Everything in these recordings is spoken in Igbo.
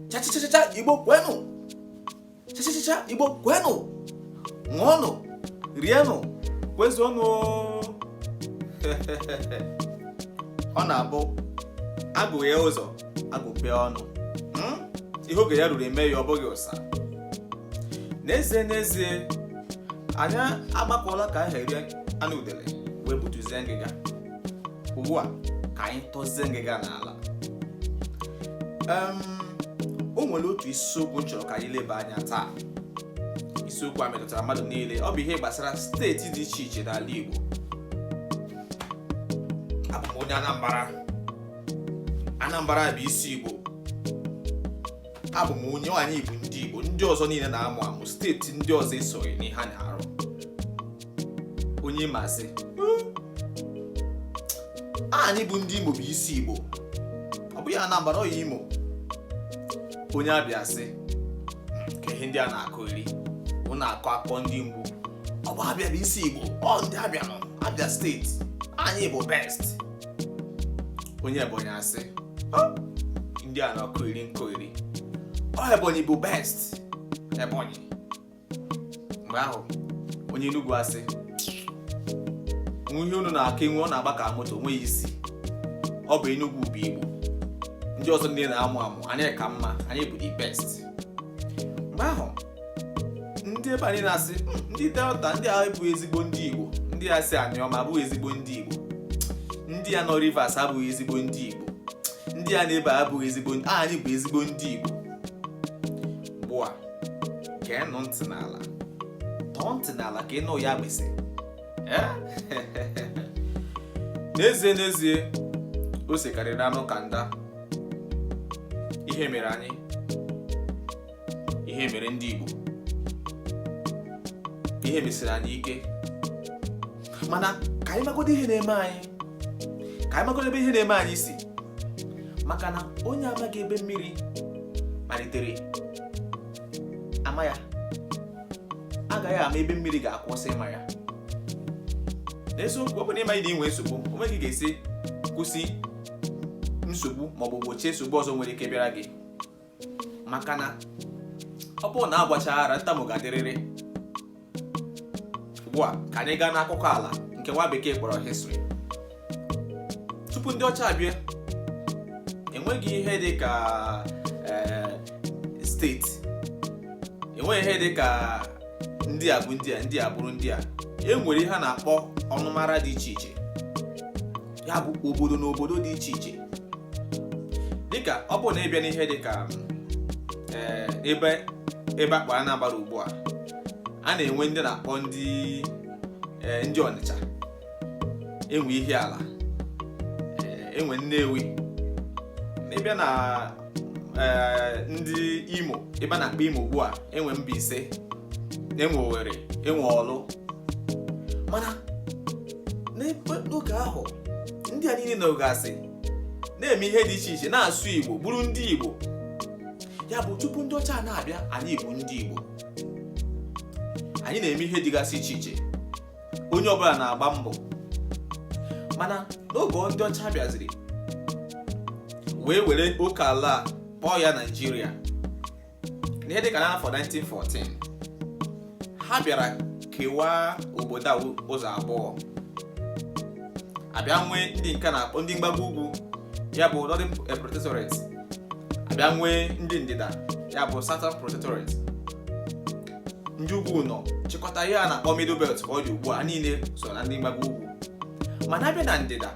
chachachacha igbo kwenụ chachachacha igbo kwenụ ṅụọnụ rienụ kwezuonụ ọ na-abụ agụghee ụzọ agụpee ọnụ hmm? ihe oge ya ruru eme ya ọ bụghị ụsa n'ezie n'ezie anyị agbakọla ka anyị rie anụ udele wee butuzie ngịga ugbu a ka anyị tọzie ngịga n'ala o nwere otu isiokwu m chọrọ ka anyị leba anya taa isiokwu a metụtara mmadụ niile ọ bụ ihe gbasara steeti dị iche iche n'ala Igbo abụ m onye Anambra Anambra bụ isi Igbo abụ m onye ọ anyị bụ ndị Igbo ndị ọzọ niile na-amụ amụ steeti ndị ọzọ esoghị n'ihe a na-arụ onye Imo asị anyị bụ ndị Imo bụ isi Igbo ọ bụghị Anambra ọya Imo onye abịa asị ka ihe ndị a na-akọgheri unu na-akọ akọ ndị mgbu ọ bụ abịa bụ isi Igbo ọ ndị abịa nọ abịa steeti anyị bụ best onye ebonyi asị ndị a na-akọgheri nkọgheri ọ ebonyi bụ best ebonyi mgbe ahụ onye enugwu asị ihe unu na-akọ enwe ọ na-agba ka moto o nweghị isi ọ bụ enugwu bụ igbo ndị ọzọ ndị na-amụ amụ anyị ka mma anyị bụ the best mgbe ahụ ndị ebe anyị na-asị hmm, ndị delta ndị a abụghị ezigbo ndị igbo ndị a si anioma abụghị ezigbo ndị igbo ndị a nọ rivers abụghị ezigbo ndị igbo ndị a nọ ebe abụghị ezigbo ndị anyị bụ ezigbo ndị igbo ugbu a geenụ ntị n'ala tọọ ntị n'ala ka ị nụ ya gbese eh? n'ezie n'ezie o sekarịrị anụ ka nda ihe mere anyị ihe mere ndị Igbo ihe mesiri anyị ike mana ka anyị magodo ihe na-eme anyị ka anyị magodo ebe ihe na-eme anyị si maka na onye amaghị ebe mmiri malitere ama ya agaghị ama ebe mmiri ga-akwụsị ịma ya n'eziokwu ọ bụrụ na ị maghị na i nwe nsogbu o nweghị ị ga-esi kwụsị nsogbu maọbụ gbochie nsogbu ọzọ nwere ike bịara gị maka na ọ bụrụ na agwọchaghị ara ntamu ga-adịrịrị ugbu a ka anyị gaa n'akụkọ ala nke nwa bekee kpọrọ history tupu ndị ọcha abịa enweghị ihe dị ka eh, steeti enweghị ihe dị ka ndị a bụ ndị a ndị a bụrụ ndị a e nwere ihe a na-akpọ ọnụmara dị iche iche ya bụ obodo na obodo dị iche iche dịka ọ bụrụ na ịbịa n'ihe dịka eh, ebe ebe a kpọ anambra ugbu a a na-enwe ndị na-akpọ ndị eh, ndị ọnịcha enwe ihiala eh, enwe nnewi n'ịbịa na ee eh, ndị imo ebe a na-akpọ imo ugbu a enwe mbaise enwe owere enwe ọlụ mana n'oge ahụ ndị a niile nọgasị na-eme ihe dị iche iche na-asụ igbo bụrụ ndị igbo ya bụ tupu ndị ọcha na-abịa anyị bụ ndị igbo anyị na-eme ihe dịgasị iche iche onye ọbụla na-agba mbọ mana n'oge ndị ọcha bịaziri wee were oke ala kpọọ ya naijiria n'ihe dịka n'afọ 1914 ha bịara kewaa obodo a ụzọ abụọ abịa nwee ndị nke na-akpọ ndị mgbago ugwu ya bụ northern protectorate abịa nwee ndị ndịda ya bụ southern protectorate ndị ugwu nọ chịkọta ihe a na-akpọ middle belt ka ọ dị ugbu a niile so na ndị mgbago ugwu mana abịa na ndịda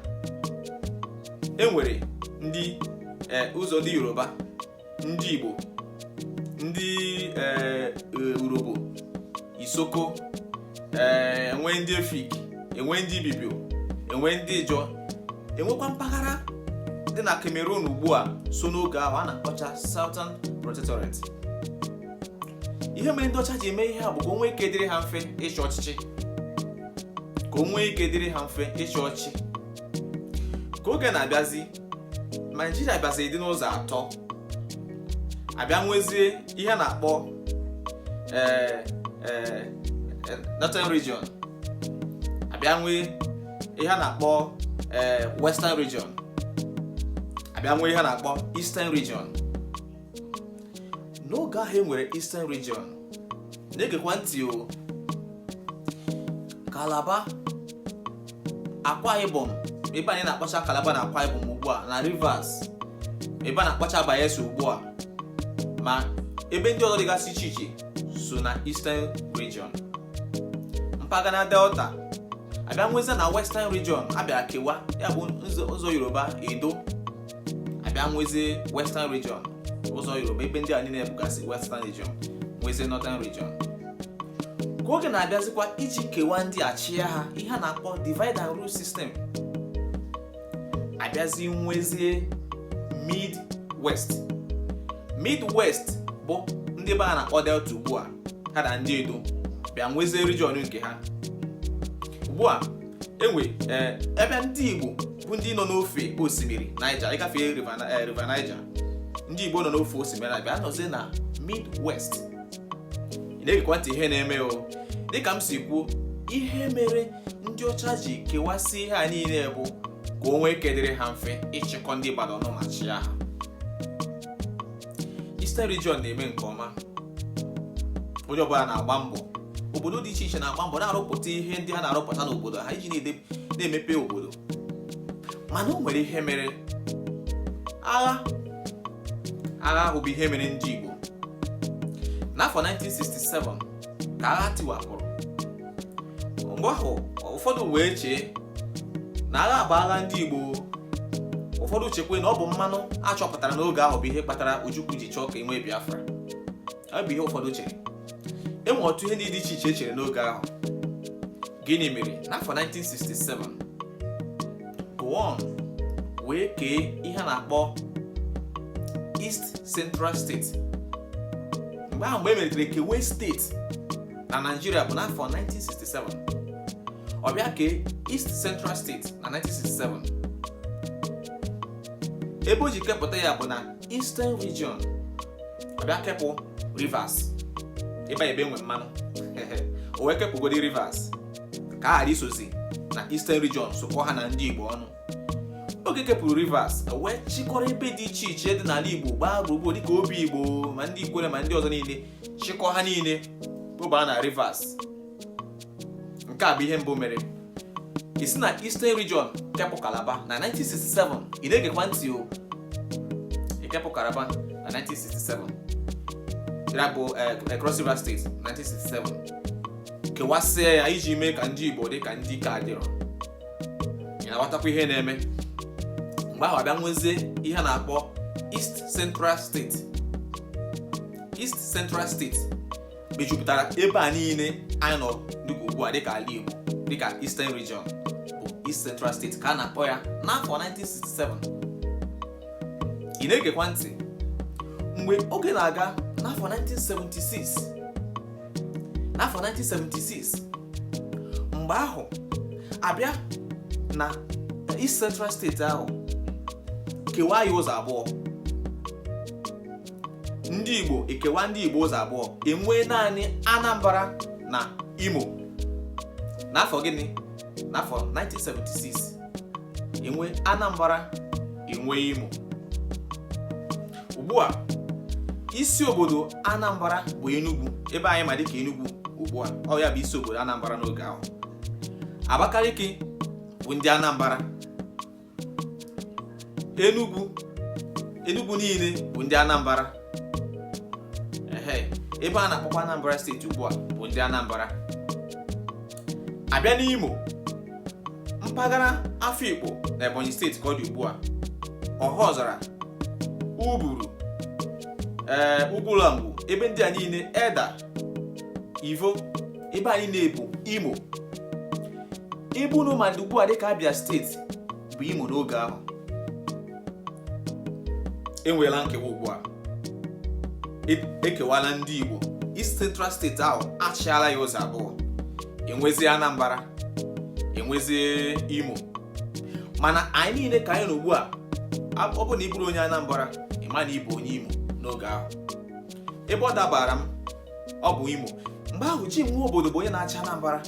e nwere ndị e, ụzọ ndị yoruba ndị igbo ndị e, e, urhobo isoko enwe ndị efik enwe ndị ibibio enwe ndị ijọ enwekwa mpaghara dị na cameroon ugbu a so n'oge ahụ a na-akpọcha southern protectorate ihe mere ndị ọcha ji eme ihe a bụ ka o nwee ike dịrị ha mfe ịchị ọchịchị ka o nwee ike dịrị ha mfe ịchị ọchị ka oge na-abịazi naijiria bịazi dị n'ụzọ atọ abịa nwezie ihe a na-akpọ eh, eh, eh, northern region abịa nwee ihe a na-akpọ western region abịa nwee ihe a na-akpọ eastern region n'oge ahụ e nwere Eastern Region na-egekwa ntị o Kalaba Akwa Ibom ebe anyị na-akpọcha Kalaba na Akwa Ibom ugbu a na Rivers ebe a na-akpọcha Bayelsa ugbu a ma ebe ndị ọzọ dịgasị iche iche so na Eastern Region mpaghara Delta abịa nwezi na Western Region abịa kewa ya bụ ụzọ Yoruba Edo abịa nwezie western region ụzọ yoruba ebe ndị a niile bụgasị western region nwezie northern region ka oge na-abịazikwa iji kewaa ndị a chịa ha ihe a na-akpọ divide and rule system abịazi nwezie mid west mid west bụ ndị ebe a na-akpọ delta ugbu a ha na ndị edo bịa nwezie region nke ha ugbu a enwe eh, ebe ndị Igbo bụ ndị nọ n'ofe osimiri Niger ịgafe eh, River Niger ndị Igbo nọ n'ofe osimiri abịa nọzie na Midwest ị na-egekwa ntị ihe na-eme o dịka m si kwuo ihe mere ndị ọcha ji kewasị ihe a niile bụ ka o nwee ike dịrị ha mfe ịchịkọ ndị mmadụ ọnụ ma chịa ha Eastern region na-eme nke ọma onye ọbụla na-agba mbọ obodo dị iche iche na-agba mbọ na-arụpụta ihe ndị ha na-arụpụta n'obodo ha iji na-emepe obodo mana o nwere ihe mere agha agha ahụ bụ ihe mere ndị Igbo n'afọ 1967 ka agha tiwapụrụ mgbe ahụ ụfọdụ wee chee na agha bụ agha ndị Igbo ụfọdụ chekwe na ọ bụ mmanụ a chọpụtara n'oge ahụ bụ ihe kpatara Ojukwu ji chọọ ka e nwee Biafra ọ bụ ihe ụfọdụ chere enwe ọtụtụ ihe ndị dị iche iche e chere n'oge ahụ Gịnị mere n'afọ 1967 Gowon wee kee ihe a na-akpọ East Central State mgbe ahụ mgbe e melitere kewe steeti na Naịjirịa bụ n'afọ 1967 ọ bịa kee East Central State na 1967 ebe o ji kepụta ya bụ na eastern region ọ bịa kepụ rivers ebe ebe enwe mmanụ o wee kepụgodi rivers ka a ghara isozi na eastern region sokọ ha na ndị igbo ọnụ oge o kepụrụ rivers o wee chịkọrọ ebe dị iche iche dị n'ala igbo gbaa gburugburu dịka Obigbo ma ndị ikwere ma ndị ọzọ niile chịkọ ha niile bubaa na rivers nke a bụ ihe mbụ o mere isi na Eastern Region kepụ Kalaba na 1967 ị na-egekwa ntị o ịkepụ Kalaba na 1967 ya bụ eh, eh, Cross River State 1967 kewasịa ya iji mee ka ndị Igbo dị ka ndị ike adịrọ ị na-aghọtakwa ihe na-eme mgbe ahụ abịa nwezie ihe a na-akpọ East Central State East Central State mejupụtara ebe a niile anyị nọ dịka ugbu a dịka ala Igbo dịka Eastern Region bụ East Central State ka a na-akpọ ya n'afọ 1967 ị na-egekwa ntị mgbe oge na-aga n'afọ 1976 n'afọ 1976 mgbe ahụ abịa na East Central State ahụ kewaa ya ụzọ abụọ ndị Igbo ekewa ndị Igbo ụzọ abụọ enwee naanị Anambra na Imo n'afọ gịnị n'afọ 1976 enwee Anambra enwee Imo ugbu a isi obodo Anambra bụ Enugu ebe anyị ma dịka Enugu ugbu a ọ ya bụ isi obodo Anambra n'oge ahụ Abakaliki bụ ndị Anambra Enugu Enugu niile bụ ndị Anambra ebe a na-akpọkwa Anambra steeti ugbu a bụ ndị Anambra abịa n'Imo mpaghara Afikpo na Ebonyi steeti ka ọ dị ugbu a Ọhaọzara Uburu ee eh, Ugwulangwu ebe ndị a niile Edda ivo ebe a niile bụ imo ebe unu ma dị ugbu a dịka abịa steeti bụ imo n'oge ahụ enweela nkewa ugbu a ekewala ndị igbo east central steeti ahụ achịala ya ụzọ abụọ enwezie anambra enwezie imo mana anyị niile ka anyị nọ ugbu a ọ bụ na ị bụrụ onye anambra ị ma na ị bụ onye imo n'oge ahụ ebe ọ dabaara m ọ bụ imo mgbe ahụ jim nwobodo bụ onye na-achị anambra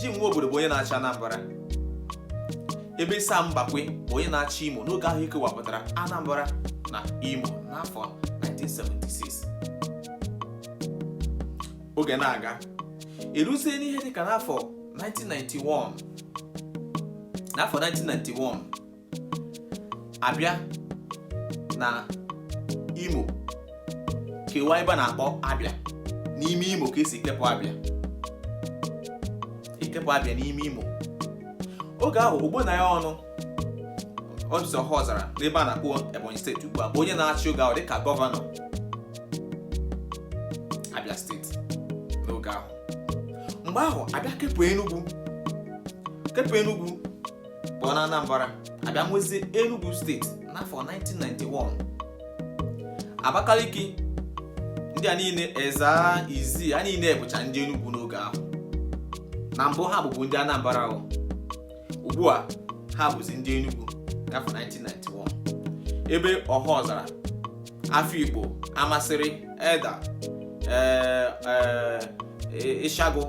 jim nwobodo bụ onye na-achị anambra ebe sam mbakwe bụ onye na-achị imo n'oge ahụ ekewapụtara anambra na imo n'afọ 1976 oge na-aga eruzie n'ihe dịka n'afọ 1991 n'afọ 1991 abịa na imo kewa ebe a na-akpọ abịa n'ime imo ka esi kepụ abịa ekepụ abịa n'ime imo oge ahụ ogbonnaya ọnụ ọdụsị ọhaọzara n'ebe a na-akpọ ebonyi steeti ugbu a bụ onye na-achị oge ahụ dịka gọvanọ abịa steeti n'oge ahụ mgbe ahụ abịa kepụ enugwu kepụ enugwu pụọ na Anambra abịa nwezie Enugu steeti n'afọ 1991 Abakaliki ndị a niile Ezza Izzi a niile bụcha ndị Enugu n'oge ahụ na mbụ ha bụbu ndị Anambra ahụ ugbu a ha bụzi ndị Enugu n'afọ 1991 ebe Ọhaọzara afikpo amasịrị edda eh, eh, eh, ịshịagụ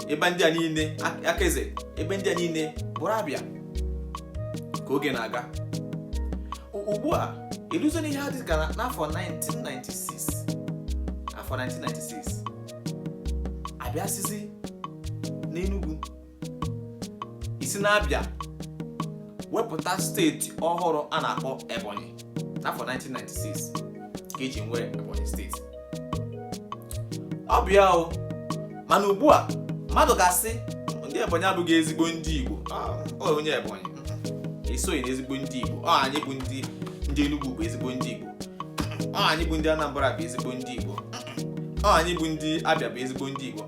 ebe ndị a niile akaeze ebe ndị a niile bụrụ abịa ka oge na-aga ugbu a eluzuo n'ihe ha dịka n'afọ 1996 afọ 1996 abịa sizie n'Enugu e si na abịa wepụta steeti ọhụrụ a na-akpọ ebonyi n'afọ 1996 ka e ji nwee ebonyi steeti ọ bụ ya o mana ugbu a mmadụ ga-asị ndị ebonyi abụghị ezigbo ndị igbo ọ onye ebonyi esoghị na ezigbo ndị igbo ọ anyị bụ ndị ndị enugwu bụ ezigbo ndị igbo ọ anyị bụ ndị anambra bụ ezigbo ndị igbo ọ anyị bụ ndị abịa bụ ezigbo ndị igbo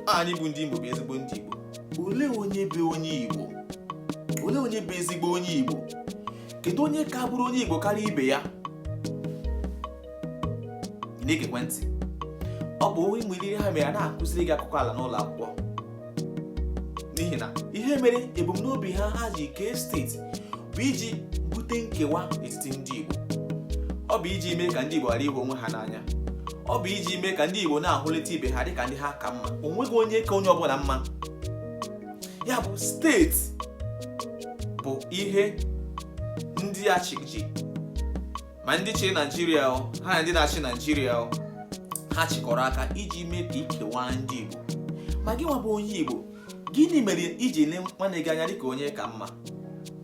anyị bụ ndị Imo bụ ezigbo ndị Igbo olee onye bụ onye Igbo olee onye bụ ezigbo onye Igbo kedu onye ka bụrụ onye Igbo karịa ibe ya na-egekwa ntị ọ bụ o nwere ihe ha mere a na-akụziri gị akụkọ ala n'ụlọ akwụkwọ n'ihi na ihe mere ebumnobi ha ha ji kee steeti bụ iji bute nkewa n'etiti ndị Igbo ọ bụ iji mee ka ndị Igbo ghara ịhụ onwe ha n'anya ọ bụ iji mee ka ndị Igbo na-ahụlịta ibe ha dịka ndị ha ka mma o nweghị onye ka onye ọbụla mma ya bụ steeti bụ ihe ndị ọchịchị ma ndị chịrị Naijiria ha na ndị na-achị Naijiria ha chịkọrọ aka iji mee ka e kewaa ndị Igbo ma gị nwa bụ onye Igbo gịnị mere i ji ele nwanne gị anya dịka onye ka mma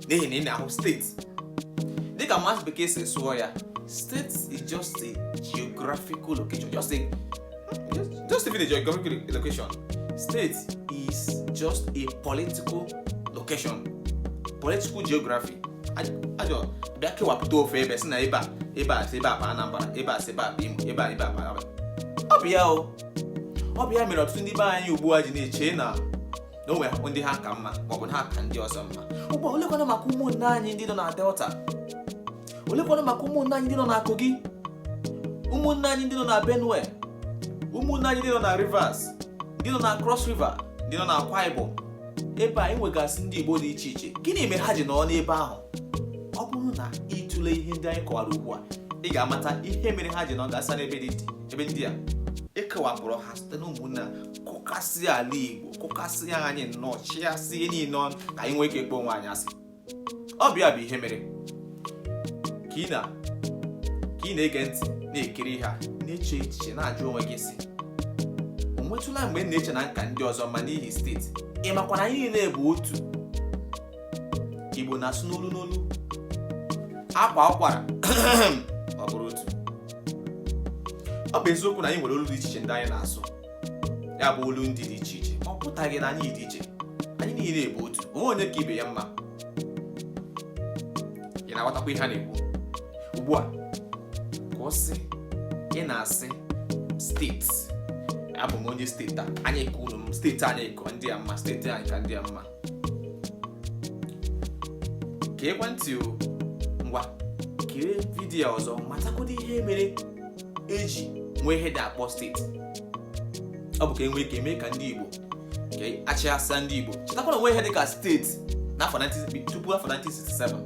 n'ihi na ị na-ahụ steeti dịka maazị bekee si sụọ ya state is just a geographical location just a just even a geographical location state is just a political location political geography e ji bịa kewapụta ofu ebe sị na ebe a ebe a si ebe a bụ anambra ebe a si ebe a bụ imo ebe a ebe a bụ abịa o ọ bụ ya mere ọtụtụ ndị be anyị ugbu a ji na-eche na na o nwere ndị ha ka mma maọbụ na ha ka ndị ọzọ mma ugbu a olekwanụ maka ụmụnne anyị ndị nọ na delta olekwanụ maka ụmụnne anyị ndị nọ na kogi ụmụnne anyị ndị nọ na benue ụmụnne anyị ndị nọ na rivers ndị nọ na cross river ndị nọ na akwa ibom ebe e nwegasị ndị igbo dị iche iche gịnị mere ha ji nọ n'ebe ahụ ọ bụrụ na ị tụlee ihe ndị anyị kọwara ugbu a ị ga-amata ihe mere ha ji nọ gasa n'ebe dị iche ebe ndị a e kewapụrụ ha site na ụmụnna kụkasị ala igbo kụkasị anyị nnọọ chịgasị niile ọnụ ka anyị nwee ike kpọọ onwe anyị asị ọ bụ ya bụ ihe mere ka ị na-ege ntị na-ekiri ha na-eche echiche na-ajụ onwe gị sị o nwetụla mgbe m na-eche na m ka ndị ọzọ mma n'ihi steeti ị makwa na anyị niile bụ otu igbo na-asụ n'olu n'olu akwaa ụkwara ọ bụrụ otu ọ bụ eziokwu na anyị nwere olu dị iche iche ndị anyị na-asụ ya bụ olu ndị dị iche iche ọ pụtaghị na anyị dị iche anyị niile bụ otu onweghị onye ka ibe ya mma ị na-aghọtakwa ihe a na-ekwu ugbu a ka ọ sị ị na-asị steeti abụ m onye steeti a anyị ka unu mma steeti anyị ka ndị a mma steeti anyị ka ndị a mma geekwa ntị o ngwa kirie vidiyo ọzọ matagodu ihe mere eji nwee ihe ndị akpọ steeti ọ bụ ka enwee ike mee ka ndị Igbo ka achịasa ndị Igbo chetakwa na onweghị ihe dị ka steeti n'afọ 19 tupu afọ 1967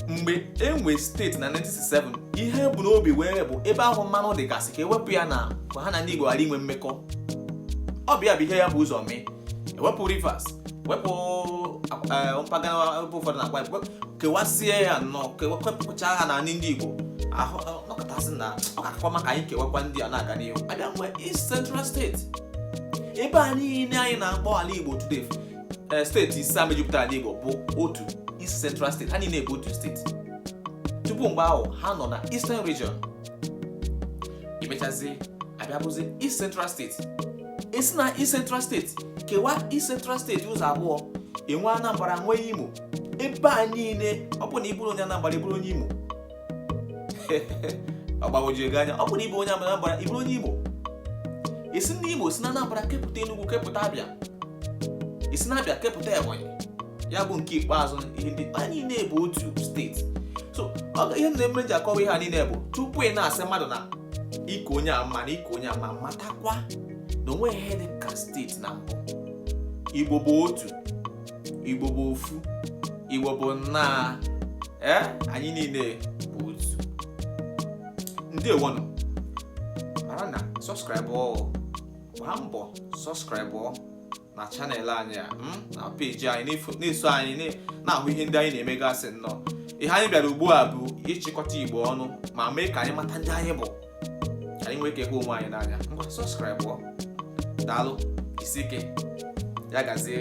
mgbe e nwee steeti na 1967 ihe bụ n'obi wee bụ ebe ahụ mmanụ dịgasị ka ewepụ ya na ka ha na ndị Igbo ghara inwe mmekọ ọ bụ ya bụ ihe e bu ụzọ mee ewepụ Rivers wepụ eh, mpaghara ebe ụfọdụ na akwa kewasịa ya nnọọ kewepụcha ha na ndị Igbo ahụ nọkọtasị na ọ ga-akakwa mma ka anyị kewakwa ndị a na-aga n'ihu abịa nwee East Central steeti ebe a niile anyị na-akpọ ala Igbo today eh, steeti ise a mejupụtara ala Igbo bụ otu East Central steeti ha niile bụ otu steeti tupu mgbe ahụ ha nọ na Eastern Region emechazi abịa bụzi East Central steeti esi na East Central steeti kewaa East Central steeti ụzọ abụọ enwe Anambra nwee Imo ebe a niile ọ bụ na ịbụrụ onye Anambra ịbụrụ onye Imo ọ gbagwoju gị anya ọ bụ na ịbụ onye Anambra ịbụrụ onye Imo esi na Imo si na Anambra kepụta Enugu kepụta Abịa esi na Abịa kepụta Ebonyi ya bụ nke ikpeazụ ihe ndị a niile bụ otu steeti so ihe m na-emere ji akọwa ihe a niile bụ tupu ị na-asị mmadụ na ị ka onye a mma na ị ka onye a mma matakwa na onweghị ihe dị ka steeti na mbụ Igbo bụ otu igbo bụ ofu igbo bụ nnaa ee anyị niile bụ otu ndeewonụ mara na sọskraịbụ gbaa mbọ sọskraịbụ na chanel anyị a hmm, na peji anyị na-eso anyị na-ahụ ihe ndị anyị na-emegasị nnọọ ihe anyị bịara ugbu a bụ ịchịkọta igbo ọnụ ma mee ka anyị mata ndị anyị bụ anyị nwee ike hụ onwe anyị n'anya ngwa sọskraịbụ daalụ jisie ike ya gazie